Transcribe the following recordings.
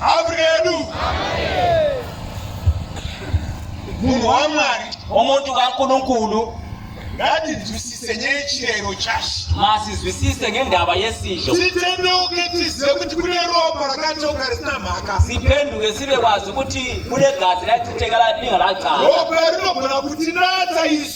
Afrika yedu. Munhu waMwari. Umuntu kaNkulunkulu. ngatizwisise nechirero chashe masizwisise ngendaba yesizvo titendeuke tizive kuti kune ropa rakatoka risina mhaka sipenduke sive kwazi kuti kune gazi raititenga radinga radzaa ropa rinogona kutinatsa isu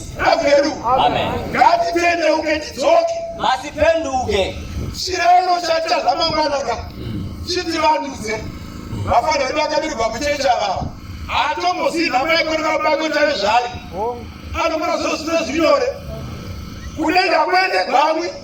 Ravedu. Amen. Ngatipendeuke tidzoke. Masipenduke. Chireno chaita zvamangwanaka. Chiti vanduze. Vafana vedu vakabirirwa muchechi ava. Atombozivi nhamo yekona vabako tave zvari. Anokona zvose zvine zvinyore. Kudenga kwende gwamwi.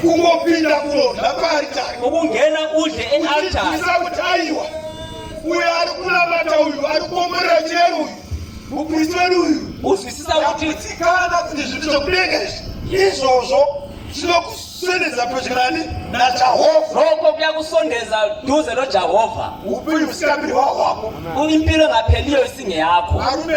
kungopinda kunodla paaritari ukungena udle ealtarisa kuti aiwa uyo ari kunamata uyu ari kuomborera chero uyu mupristi wedu uyu uzwisisa kutiikana kuti zvinhu zvekudenga izvi izvozvo zvinokusondedza pedyo nani najehovha roko kuya kusondedza duze nojehovha upenyu husingapiri hwahwako impilo ngapheliyo isinge yakho arume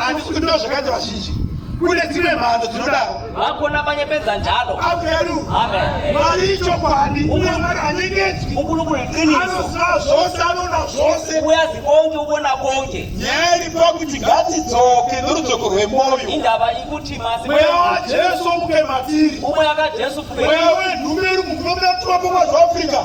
handisi kutoa zvakaita vazhinji kune dzimwe mhando dzinodaro vakona vanyepedza njalo mari ichokwadi uye mari anyengedzwi anoziva zvose anona zvose uya zibonge ubona bonge nyaya iripo kuti ngatidzoke norudzoko rwemoyo indava ikuti masi mweya wajesu muke matiri umwe akajesu mweya wenhume iri mukunomunatumapomazoafrica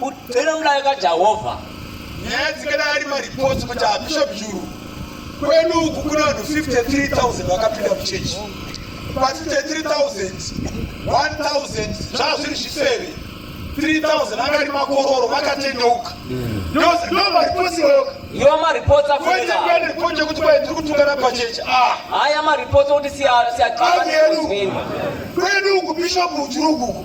kudzera mulayo kajehovha nyaya dzingadai ari maripotsi kuti abishop juru kwedu uku kune vanhu 53000 vakapinda muchechi pasi te3000 1000 zvaa zviri zvisere 3000 angari makororo vakatendeuka ndomaripotsi iyoyoka iwa maripotsi afuaaripoti yekuti kwai tiri kutungana pachechi haya maripotsi okuti siyaedu kwedu uku bishopu juru ukuku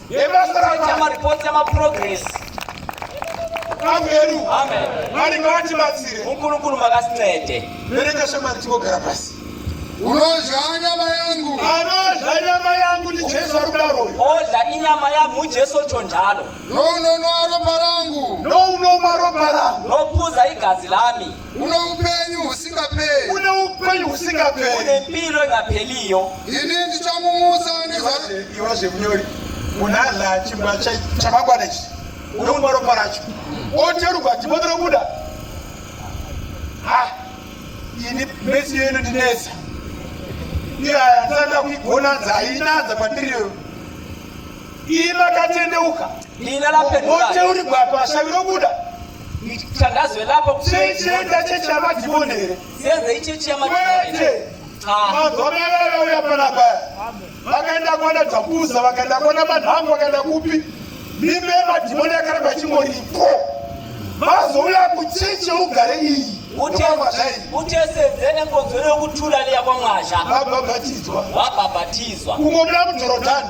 Maripoti yamaprogress ameru mwari ngavatibatsire mukurukuru makasinaende bereka shamari tingogara pasi unodya nyama yangu anodya nyama yangu ndi jesu ari kudaro odya inyama yangu jesu chondalo nounonwa ropa rangu nounomwa ropa rangu nopuza igazi lami Une upenyu husingaperi. Une upenyu husingaperi. Une mpiro ingapeliyo. Ini ndichamumutsa nezvaiwa zvemunyori. Munhu adla chimba chamangwana ichi. Unomwa ropa racho. Oteruka timoto robuda. Ha. Ini mesi yenu ndinesa. Iyaya ndisada kuigona dzainadza kwandiriyo. Ina katendeuka. Ina lapendula. Oteurigwa pashaviro buda. Tandazwe lapo kuchienda chechi yamadhimoni here? Senze ichechi yamadhimoni here? Magomerera uya panapa vakaenda kuona Dhakuza, vakaenda kuona Manhangu, vakaenda kupi? Mimba yemadhimoni yakaramba chingoripo. Mazouya kuchechi ugare iyi utesedzene ngonzero yokuthula liya kwamwasha wabhabhatidzwa wabhabhatidzwa kungomira mudhorodhani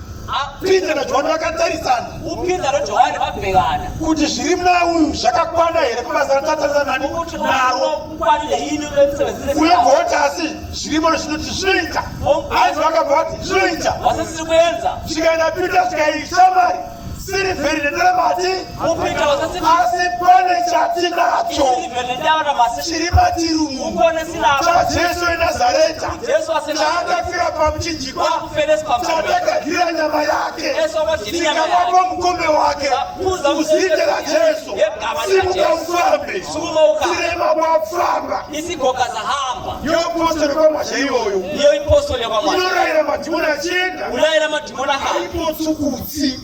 Peter naJohani vakatarisana. UPeter naJohani vabhekana. Kuti zviri muna uyu zvakakwana here kubasa ratatarisana nani naro. Uye goti asi zvirimo zvinoti zvinoita. Asi vakabva vati zvinoita. Vasisiri kuenza. Zvikaenda Peter zvikaishamari. Siri vheri nendaramati. asi pane chatinacho chiri matiri umu chajesu enazareta chaakafira pamuchinjikwa chatagadzira nyama yake tikavapo mukombe wake uzite rajesu simuka ufambe tirema kwafamba yopostori kwamasha iyoyo inorayira madhimoni achienda aipotsukutsi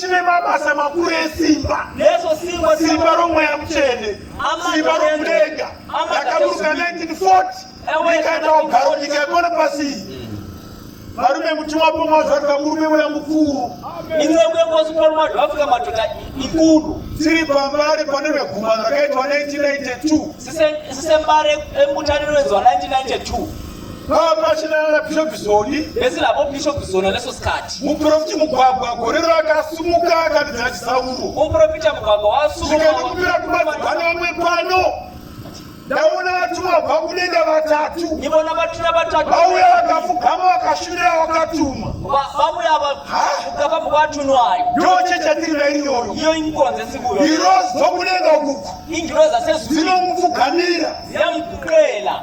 chine mabasa makuru esimba neso simba simba romweya mutsvene simba rokudenga rakaburuka 1940 rikaenda kugaro nyika yepano pasi varume mutumwa pomwa zvarika murume weya mukuru iwewekosuporuma zvaafrika madhota ikuru tiri pambare pane vegumano rakaitwa 1992 sisembare emutaniro wenzwa 1992 vapachinana bishop zoni vese lavo bishop zoni aneso sikati muprofiti mugwagwa gore rakasumuka akabidza chisauro muprofita mugwagwa wasumukaikupira kumadzibva nevamwe pano ndaona vatumwa bva kudenga vatatu ndivona vatumwa vatatu vauya vakafugama vakashumira vakatuma vauya vakafugama muvatunwa ayo ndoche chatiri nairiyoyo iyo ingonze sikuyo irozi dzokudenga ukuku ingirozi asezuinomufugamira yamukuqela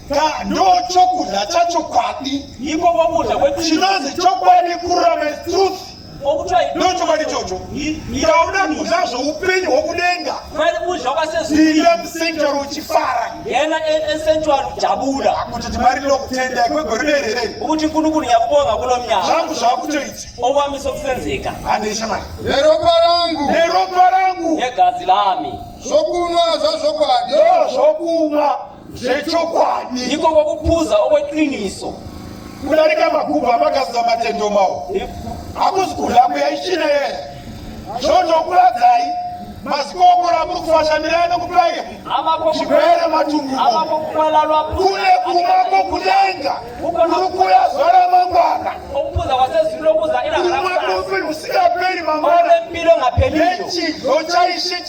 ndochokudya chachokwadi iko kwokudya kwekristu chinozi chokwadi kururama is truth okuti ndochokwadi chocho ndauda kudya zvoupenyu hwokudenga kwari kudya kwasezuiya musentuari uchifara yena esentuari ujabuda kuti timari ndinokutenda kwegore rerere ukuti kunu kunu nyakubonga kuno mnyaka zvangu zvakutoita okwamisa kusenzeka andesha mari neropa rangu neropa rangu negazi lami zvokunwa zvazvokwadi zvokunwa zvechokwadi ndiko kwokupfuza okweqiniso kudarika magubhu amagadzira matendo mawo hakuzi kunhambo yaichina yeye zvonokuradzai mazikomora muri kufashamirana nokupai chipere matumbuokune kuma kokudenga kuri kuya zuva ramangwana rumwe mufi rusingaperi mangwana nechido chaishe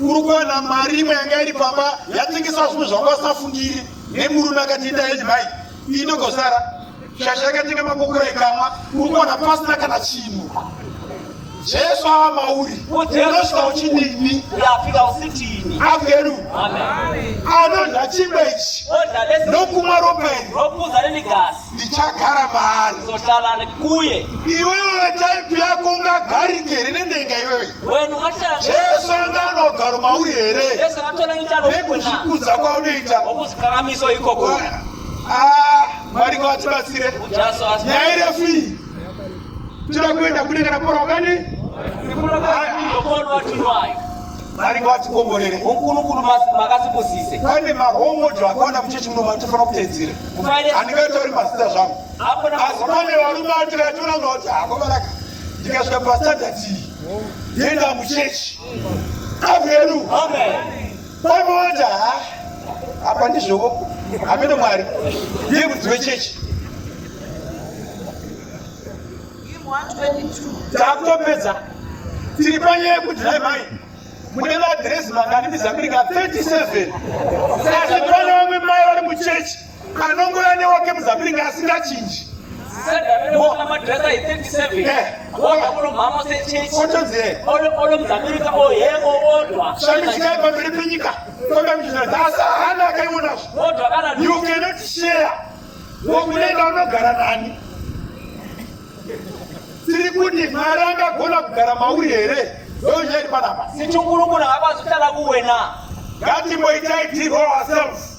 uri kuwana mari imwe yanga iri pamba yatengeswa zvimwe zvanga usafungiri nemurume akati itai mai inogosara shasha yakatenga makokora ikamwa uri kuwana pasina kana chinhu jesu ava mauri unosvika uchinini uyafika usitini averu anodya chingwa ichi nokumwa ropa iri rokuza nenigasi ndichagara maari zotala kuye iwewe taipi yako ungagarike here nendenga iwewe Jesu anga anogaro mauri here nekuzvikudza kwaunoita ah, mwari ngavatibatsire nyaya irefu iyi tinoda kuenda kune kana porwa kani vari vatikomborere ukunukunu makasipusise pane mahomodo akaona muchechi muno matofana kutedzera handingatori mazita zvangu asi pane varume atira tonanga kuti hakomaraka ndikasvika pastandard iyi ndienda muchechi amedu pamota apa ndizvovo ameno mwari ndiye mudzi wechechi takutopedza tiri panyaya yekuti nhai mai mune madhirezi mangani mizamiri ka 37 asi pane vamwe mai vari muchechi anongouya newake muzambiringi asingachinji shamishikai pamberi penyika kwakamichizadhasa hana akaionazvo you cannot share wokunenda unogara nani tiri kuti mwari angagona kugara mauri here ndochairi panapa sichungurukuna ngapazvitala kuwena ngatimboitai tiro ourselves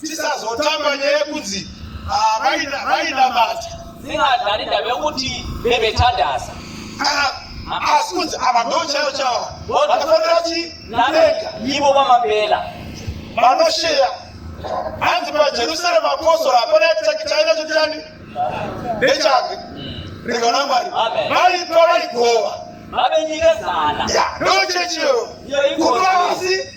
tisazotamba nyaya yekunzi ah, vainamata zingazarida vekuti vevetadasa ah, asi kunzi ava ndo chaivo chavo vanofanira chi navega ivo vamapela vanosheya hanzi pajerusarema apostora hapana chaina chotani nechake rega na mwari vaipa vaigova vave nyika zana ndochechiyo kutoisi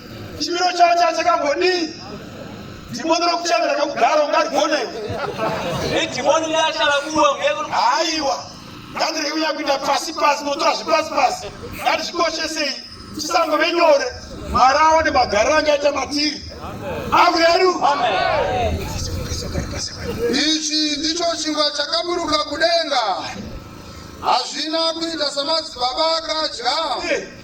chimiro chavo chava chakambodii dhimoni rokuchave rakakugara ungarigone idhimoni riachalakuwa haiwa ngandirege kunyanya kuita pasi pasi notora zvepasi pasi ngandizvikoshesei chisango venyore mwari aone magariro angaita matiri akureru ichi ndicho chingwa chakaburuka kudenga hazvina kuita samadzibaba akadya